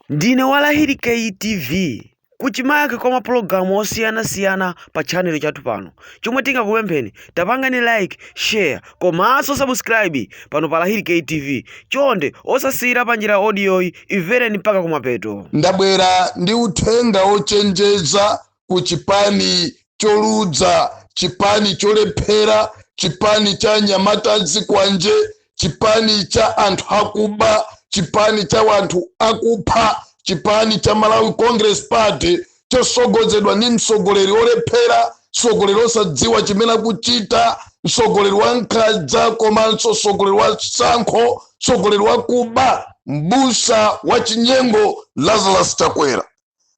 Ndine wa Lahiri Kay TV. Kuchimake kwa mapulogalamu osiyanasiyana pa chanelo chathu pano. Chomwe tingakupempheni, tapangani like, share komanso subscribe pano pa Lahiri Kay TV. Chonde osasiyira panjira audiyoyi, imvereni mpaka kumapeto. Ndabwera ndi uthenga wochenjeza ku chipani choludza chipani cholephera chipani cha anyamata azikwanje chipani cha anthu akuba chipani cha wanthu akupha chipani cha malawi congress party chosogozedwa ndi mtsogoleri olephera mtsogoleri osadziwa chimene akuchita mtsogoleri wa nkhanza komanso mtsogoleri wa tsankho mtsogoleri wakuba mbusa wa chinyengo lazarus chakwera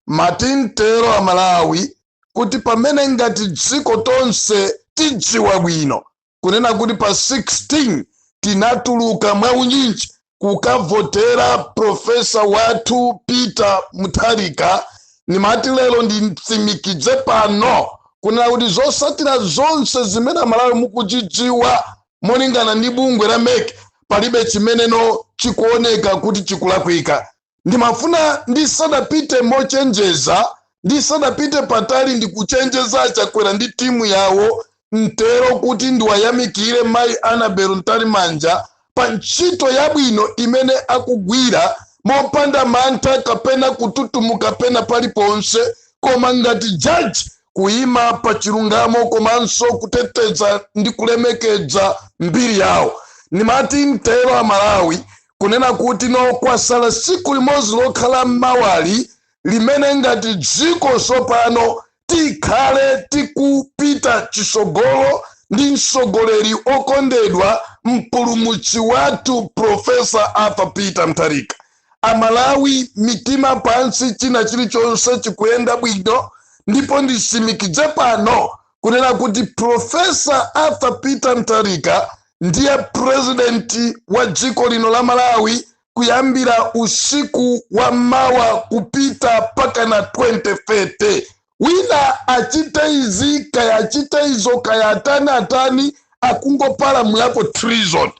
Ndimati ntero amalawi kuti pamene ngati dziko tonse tidziwa bwino kunena kuti pa 16 tinatuluka mwaunyinji kukavotera professor wathu peter mutharika ndimati lero nditsimikize pano kunena kuti zosatira zonse zimene amalawi mukuchidziwa molingana ndi bungwe la mec palibe chimene no chikuoneka kuti chikulakwika ndimafuna ndisadapite mochenjeza ndisadapite patali ndi kuchenjeza achakwera ndi timu yawo mtero kuti ndiwayamikire mayi anabel mtalimanja pa ntchito yabwino imene akugwira mopanda mantha kapena kututumuka pena paliponse koma ngati jaji kuyima pa chilungamo komanso kuteteza ndi kulemekeza mbiri yawo ndimati mtero amalawi kunena kuti no kwasala tsiku limodzi lokha la mmawali limene ngati dziko tsopano tikhale tikupita chisogolo ndi mtsogoleri okondedwa mpulumutsi wathu profesa arthur peter mutharika amalawi mitima pansi china chilichonse chikuyenda bwino ndipo nditsimikize pano kunena kuti profesa arthur peter mutharika ndiye purezidenti wa dziko lino la malawi kuyambira usiku wa mawa kupita pakana 2030 wina achite izi kaya achite izo kaya atani atani akungopalamulapo treason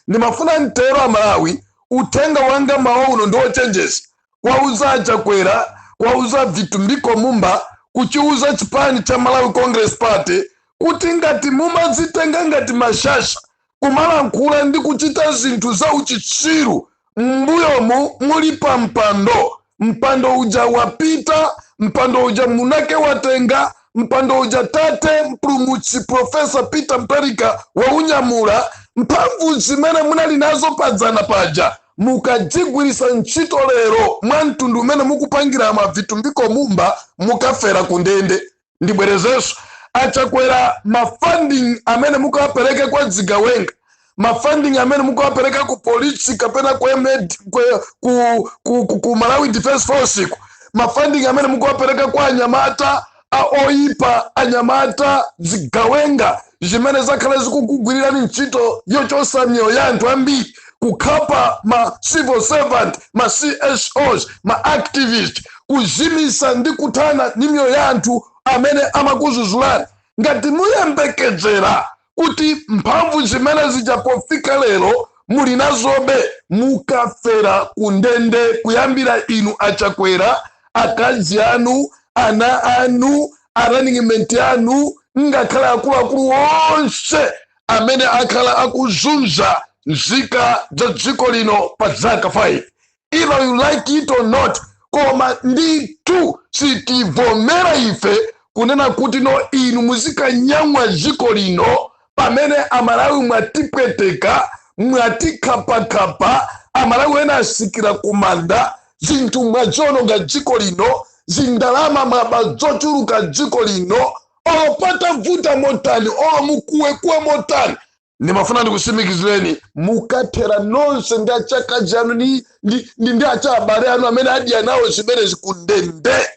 ndimafuna mtero amalawi uthenga wanga mmawa uno ndi ochenjeza kwauza a Chakwera, kwauza Vitumbiko Mumba, kuchiuza chipani cha Malawi Congress Party kuti ngati mumazitenga ngati mashasha kumalankhula ndi kuchita zinthu za uchitsiru m'mbuyomu muli pa mpando mpando uja wapita mpando uja mwinake watenga mpando uja tate mpulumutsi profesa peter mutharika waunyamula mphamvu zimene munali nazo padzana paja Mukadzigwirisa ntchito lero mwa mtundu umene mukupangiramu a Vitumbiko Mumba mukafera ku ndende. Ndibwerezenso, a Chakwera ma funding amene mukawapereka kwa zigawenga, ma funding amene mukawapereka ku polisi kapena ku, MAD, ku, ku, ku, ku, ku Malawi Defense Force ku, ma funding amene mukawapereka kwa anyamata a oyipa, anyamata, zigawenga zimene zakhala zikukugwirirani ntchito yochotsa miyoyo ya anthu ambiri, kukhapa ma civil servant, ma CSOs, ma activist, kuzimitsa ndi kuthana ndi miyoyo ya anthu amene amakudzudzulani. Ngati muyembekezera kuti mphamvu zimene zija pofika lero muli nazobe mukafera kundende kuyambira inu achakwera akazi anu ana anu a running mate anu ngakhale akuluakulu onse amene akhala akuzunza nzika za dziko lino pa zaka 5 either you like it or not koma ndithu sitivomera ife kunena kuti no inu muzikayamwa dziko lino pamene amalawi mwatipweteka mwatikhapakhapa amalawi ena atsikira kumanda zinthu mwaziwononga dziko lino zindalama mwaba zochuluka dziko lino olo patavuta motani olo mukuwekuwe motani ndimafuna ndikutsimikizireni mukathera nonse ndi achakazi anu ndi ndi- ndi- ndi achaabale anu amene adya nawo zimenezi ku ndende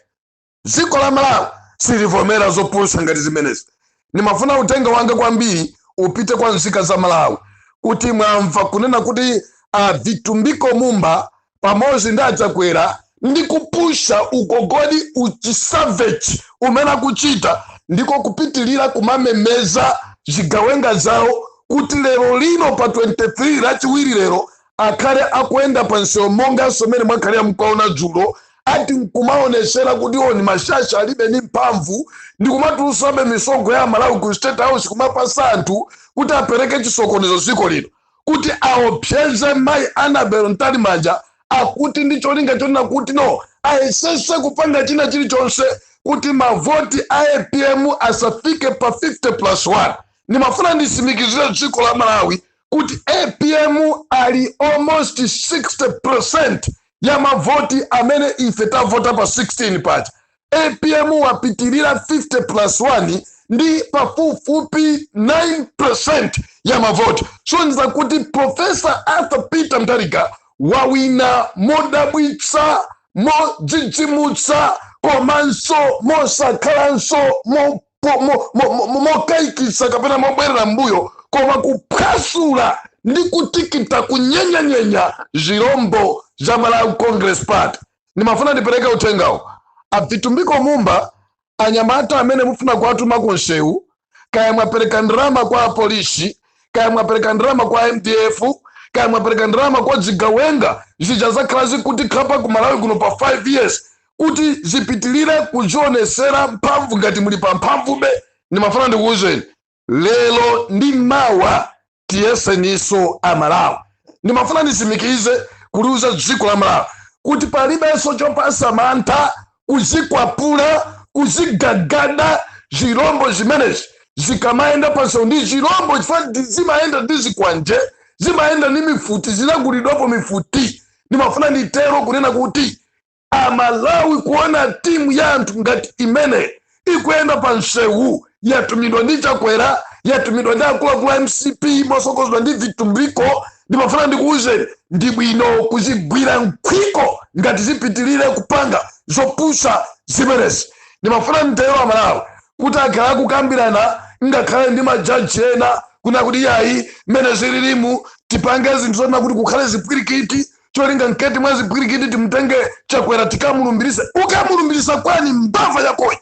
dziko la malawi silivomera zopusa ngati zimenezi ndimafuna uthenga wanga kwambiri upite kwa nzika za malawi kuti mwamva kunena kuti a vitumbiko mumba pamodzi ndi achakwera ndi kupusha ugogodi uchisavage umene akuchita ndiko kupitilira kumamemeza zigawenga zawo kuti lero lino pa 23 lachiwiri lero akhale akuyenda pa msewu monganso mmene mwakhalira mkuwaona dzulo ati nkumaonetsera kuti ndi mashasha alibe ndi mphamvu ndi kumatulusabe misonkho ya amalawi ku state house kumapatsa anthu kuti apereke chisokonezo dziko lino kuti aopseze mayi Annabel Mtalimanja akuti ndi cholinga chonena kuti no ayesese kupanga china chilichonse kuti mavoti a APM asafike pa 50 plus 1 ndimafuna nditsimikizire dziko la Malawi kuti APM ali almost 60% ya mavoti amene ife tavota pa 16 paja apm wapitirira 50 plus 1 ndi pafupifupi 9% ya mavoti kusonyeza kuti profesa arthur peter mtharika wawina modabwitsa modzidzimutsa komanso mosakhalanso mokayikitsa kapena mobwerera mbuyo koma kuphwasula ndi kutikita kunyenyanyenya zirombo za malawi congress party ndimafuna ndipereke uthengawo abvitumbiko mumba anyamata amene mufuna kuwatuma ku nsewu kaya mwapereka ndalama kwa polisi kaya mwapereka ndalama kwa mdf kaya mwapereka ndalama kwa zigawenga zija zakhala zikutikhapa ku malawi kuno pa 5 years kuti zipitilire kuzionesera mphamvu ngati muli pa mphamvube ndimafuna ndikuwuzeni lero ndi mawa tiyeseniso amalawi ndimafuna ndisimikize kuliuza dziko la malawi kuti palibenso chopasa mantha kuzikwapula kuzigagada zirombo zimenezi zikamayenda pansewu ndi zirombo chifukwa zimayenda ndi zikwanje zimayenda ndi mifuti zinagulidwapo mifuti ndimafuna nditero kunena kuti amalawi kuona timu ya anthu ngati imene ikuyenda pa nsewu yatumidwa ndi chakwera yatumidwa ndi akuluakulu a mcp mosokozedwa ndi vitumbiko ndimafuna ndikuwuzeni ndi bwino kuzigwira nkhwiko ngati zipitirire kupanga zopusa zimenezi ndimafuna nditero amalawi kuti akhala akukambirana ngakhale ndi majaji ena kuna kuti yayi mmene zililimu tipange zinthu zona kuti kukhale zipwirikiti cholinga mkati mwa zipwirikiti timutenge chakwera tikamulumbirise ukamulumbirisa kwani mbava yakoyo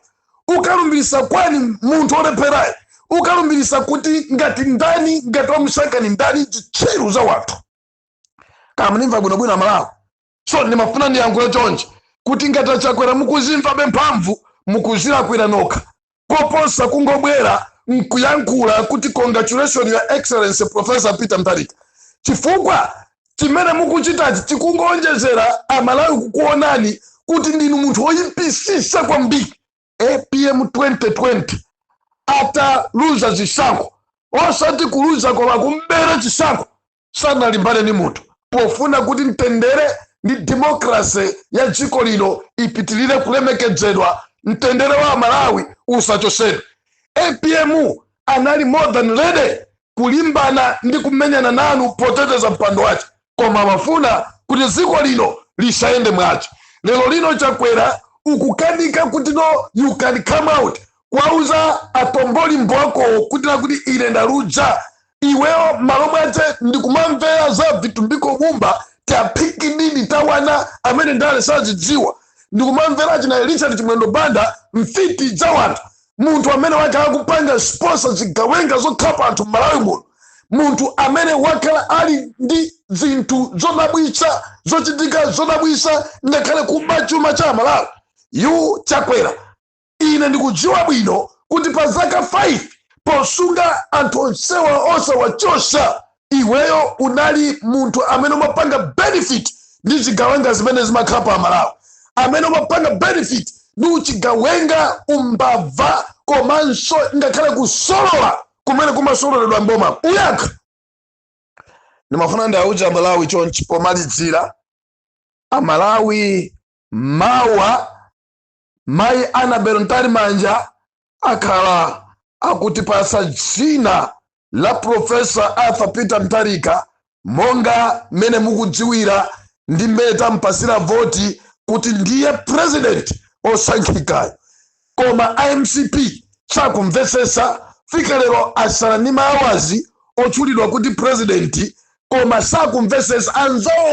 ukalumbirisa kwani munthu olepherayi ukalumbirisa kuti ngati ndani ngati wamusaka ni ndani zitsiru za wanthu muzindimva bwinobwino amalawi so ndimafuna ndiyankhule chonje kuti ngati achakwera mukuzimvabe mphamvu mukuzilakwira nokha koposa kungobwera nkuyankhula kuti congratulation your excellency professor peter mtharika chifukwa chimene mukuchitachi chikungoonjezera amalawi kukuonani kuti ndinu munthu woyipisisa kwambiri apm 2020 ataluza zisankho osati kuluza koma kumbera chisankho sanalimbane ndi munthu pofuna kuti mtendere ndi demokrase ya dziko lino ipitirire kulemekedzedwa mtendere wa amalawi usachosedwe apm anali more than ready kulimbana ndi kumenyana nanu poteteza mpando wace koma amafuna kuti dziko lino lisayende mwazi lero lino chakwera ukukanika kuti no you can come out kuwauza atombolimbo akowo kuti nakuti ine ndaluza iweyo malo mwace ndikumamvera za Vitumbiko Mumba tapikinini tawana amene ndale sazidziwa ndikumamvera achina Richard Chimwendo Banda mfiti za wanthu munthu amene wakhala kupanga sponsor zigawenga zokhapa anthu m'malawi muno munthu amene wakhala ali ndi zinthu zodabwitsa zochitika zodabwitsa ngakhale kuba chuma cha amalawi iwe Chakwera Ine ndikudziwa bwino kuti pa zaka 5 posunga anthu onsewa osawachosa, iweyo unali munthu amene umapanga benefit ndi zigawenga zimene zimakhala pa Malawi, amene umapanga benefit ndi uchigawenga, umbava komanso ngakhale kusolola kumene kumasololedwa m'boma. Uyakha. Ndimafuna ndiauze Amalawi chonchi pomalizira, Amalawi mawa Mayi Annabel Mtalimanja akhala akutipatsa dzina la Professor Arthur Peter Mutharika monga mmene mukudziwira ndi mmene tampasira voti kuti ndiye president osankhikayo koma a MCP sakumvesesa fika lero asala ndi maawazi otchulidwa kuti president koma sakumvesesa anzawo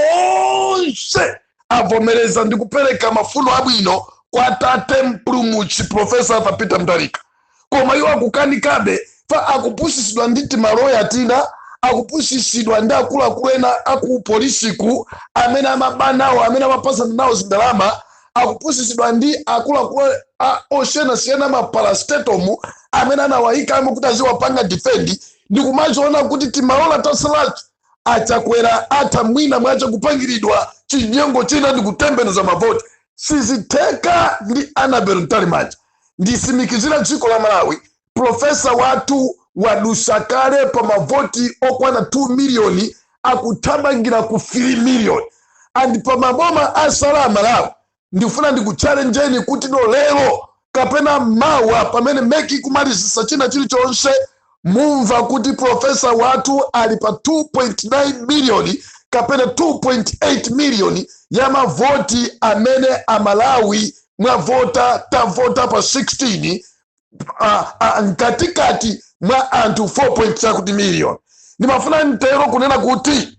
onse avomereza ndi kupereka mafuno abwino kwa tate mpulumutsi profesa Arthur Peter Mutharika koma iwo akukanikabe fa akupusisidwa ndi timaloya tina akupusisidwa ndi akuluakulu ena aku polisiku amene amaba nawo amene amapasana nawo zindalama akupusisidwa ndi akuluakulu a- osiyanasiyana maparastatomu amene anawayikamo kuti aziwapanga difendi ndikumachiona kuti timaola tasalato achakwera atha mwina mwake kupangiridwa chinyengo china ndi kutembenuza mavoti sizitheka ndi Annabel Mtalimanja ndisimikizira dziko la malawi profesa wathu wadusa kale pa mavoti okwana 2 miliyoni akuthamangira ku 3 miliyoni and pa maboma asala amalawi ndifuna ndikutchalenjeni kuti no lero kapena mawa pamene MEC ikumalizisa china chilichonse mumva kuti profesa wathu ali pa 2.9 miliyoni kapena 2.8 miliyoni ya mavoti amene amalawi mwavota tavota pa 16 mkatikati mwa anthu 4 point chakuti miliyoni ndimafuna ntero kunena kuti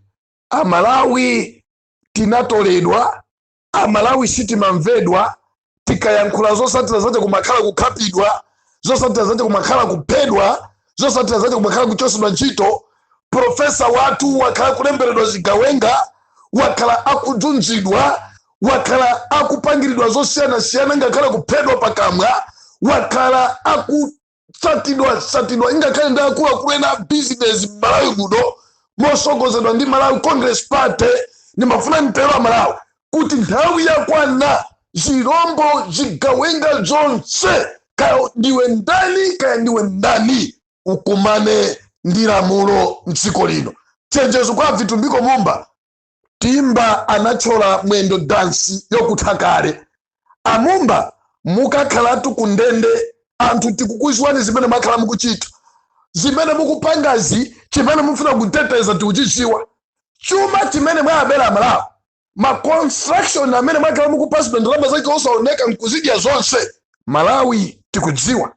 amalawi tinatoledwa amalawi sitimamvedwa tikayankhula zosatira zache kumakhala kukhapidwa zosatira zache kumakhala kuphedwa zosatira zache kumakhala kuchosedwa ntchito profesa wathu wakhala akulemberedwa zigawenga wakhala akudzunzidwa wakhala akupangiridwa zosiyanasiyana ngakhale kuphedwa pakamwa wakhala aku satidwa satidwa ingakhale ndi akuluakulu ena a bizinesi m'malawi muno mosogozedwa ndi malawi congress party ndimafuna nditero amalawi kuti nthawi yakwana zirombo zigawenga zonse kaya ndiwe ndani kaya ndiwe ndani ukumane ndi lamulo mdziko lino chenjezo kwa vitumbiko mumba timba anatchola mwendo dansi yokutha kale amumba mukakhalatu ku ndende anthu tikukuziwani zimene mwakhala mukuchita zimene mukupangazi chimene mufuna kuteteza tikuchiziwa chuma chimene mwawabera amalawi ma construction amene mwakhala mukupasidwa ndalama zake osaoneka nkuzidya zonse malawi tikudziwa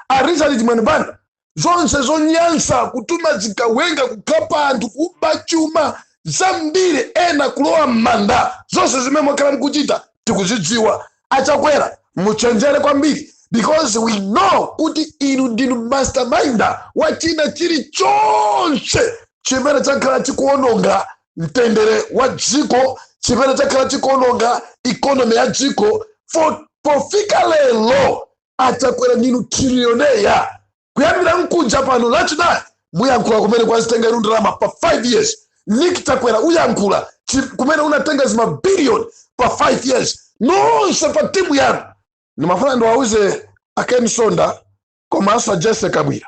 a richard chimwendo banda zonse zonyansa kutuma zigawenga kukhapa anthu kuba chuma zambiri ena kulowa m'manda zonse zimene mwakhala mukuchita tikuzidziwa achakwera muchenjere kwambiri because we know kuti inu ndinu masterminder wa china chilichonse chimene chakhala chikuononga mtendere wa dziko chimene chakhala chikuononga ikonomi ya dziko pofika lero achakwera ndinu trilioneya kuyambira mkuja pano lachinayi muyankhula kumene mwazitenga inu ndalama pa 5 years nick chakwera uyankhula kumene unatenga zimabiliyoni pa 5 years nonse pa timu yanu ndimafuna ndiwauze aken msonda komanso ajessie kabwila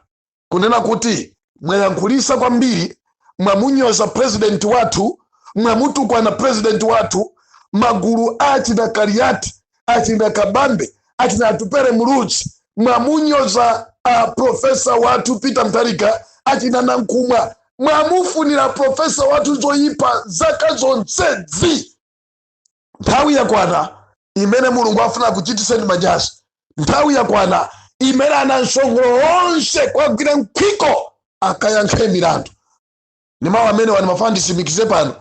kunena kuti mwayankhulisa kwambiri mwamunyoza president wathu mwamutukwana president wathu magulu achina kaliati achina kabambe achina atupele muluzi mwamunyoza a profesa wathu peter mutharika achina nankhumwa mwamufunira profesa wathu zoyipa zaka zonsezi nthawi yakwana imene mulungu afuna kuchitiseni manyazi nthawi yakwana imene ana msongolo onse kwagwira mkhwiko akayankhe milandu ni mawu amenewa ndimafuna ndisimikize pano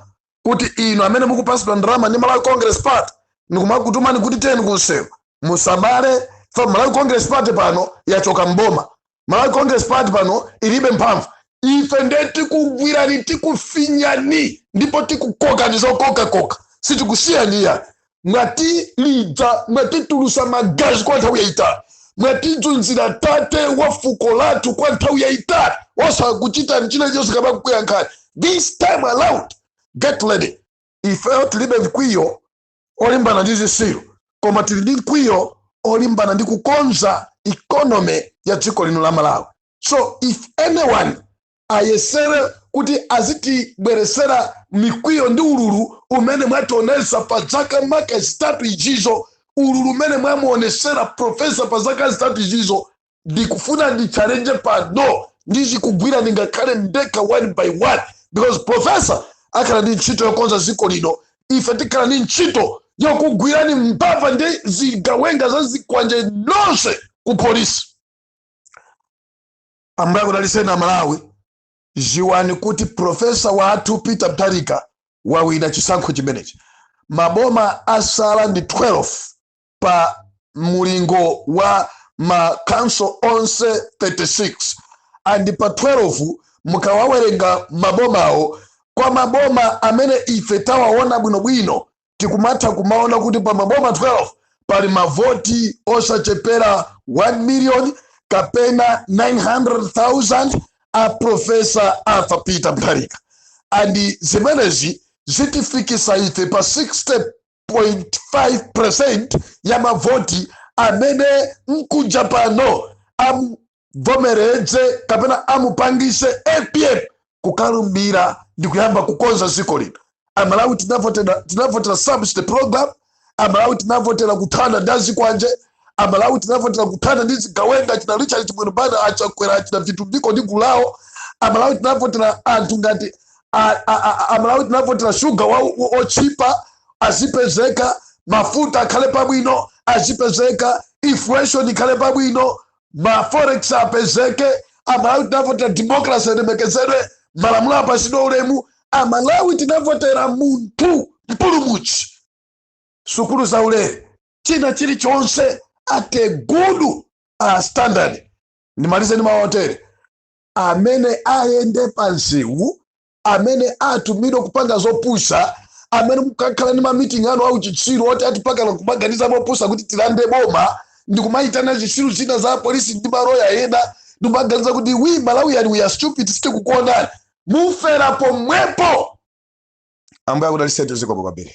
kuti inu amene mukupasidwa ndalama ndi malawi congress party ndikumakutumani kuti tiyeni kunsewu musamale chifukwa malawi congress party pano yachoka mboma malawi congress party pano ilibe mphamvu ife nde tikugwirani tikufinyani ndipo tikukokani zokokakoka sitikusiyani mwatilidza mwatitulusa magazi kwa nthawi yayitali mwatidzunzira tate wa fuko lathu kwa nthawi yayitali osakuchitani china chonse kapena kukuyankhani this time around get ready ifeyo tilibe mkwiyo olimbana ndi zisiru koma tili ndi mkwiyo olimbana ndi kukonza economy ya dziko lino la malawi so if anyone ayesere kuti azitibweresera mikwiyo ndi ululu umene mwationesa pa zaka maka zitatu izizo ululu umene mwamuonesera profesa pa zaka zitatu izizo ndikufuna ndichallenge pano ndizikugwira ndingakhale ndekha one by one because profesa akhala ndi ntchito yokonza dziko lino ife tikhala ndi ntchito yokugwirani mbava ndi zigawenga za zikwanje nonse ku polisi ambuye akudaliseni a malawi dziwani kuti profesa wathu peter mutharika wawina chisankho chimenechi maboma asala ndi 12 pa mulingo wa ma council onse 36 and pa 12 mukawawerenga mabomawo kwa maboma amene ife tawaona bwinobwino tikumatha kumaona kuti pa maboma 12 pali mavoti osachepera 1 million kapena 900,000 a profesa arthur peter mutharika and zimenezi zitifikisa ife pa 60 0.5% ya mavoti amene mkuja pano amuvomereze kapena amupangise apm kukalumbira ndi kuyamba kukonza dziko lino amalawi tinavotera subsidy program amalawi tinavotera kuthana ndi azikwanje amalawi tinavotera kuthana ndi zigawenga achina richard chimwendo banda achakwera achina vitumbiko ndi gulu lawo amalawi tinavotera anthu ngati a- a- a- a- amalawi tinavotera shuga wa- wa- otchipa azipezeka mafuta akhale pabwino azipezeka inflation ikhale pabwino ma forex apezeke amalawi tinavotera democracy alemekezedwe malamulo apasidwe ulemu amalawi tinavotera munthu mpulumutsi sukulu za ulere china chilichonse at a good uh, standard ndimalize ndi mawu otere amene ayende pa msewu amene atumidwe kupanga zopusa amene mukakhala ndi mamiting anu au chitsiru oti atipakana kumaganiza mopusa kuti tilande boma ndi kumayitana zitsiru zina za polisi ndi maroya ena ndi kumaganiza kuti we malawians we are stupid sitikukuonani mufera pomwepo ambuye akudaliseni zikomo kwambiri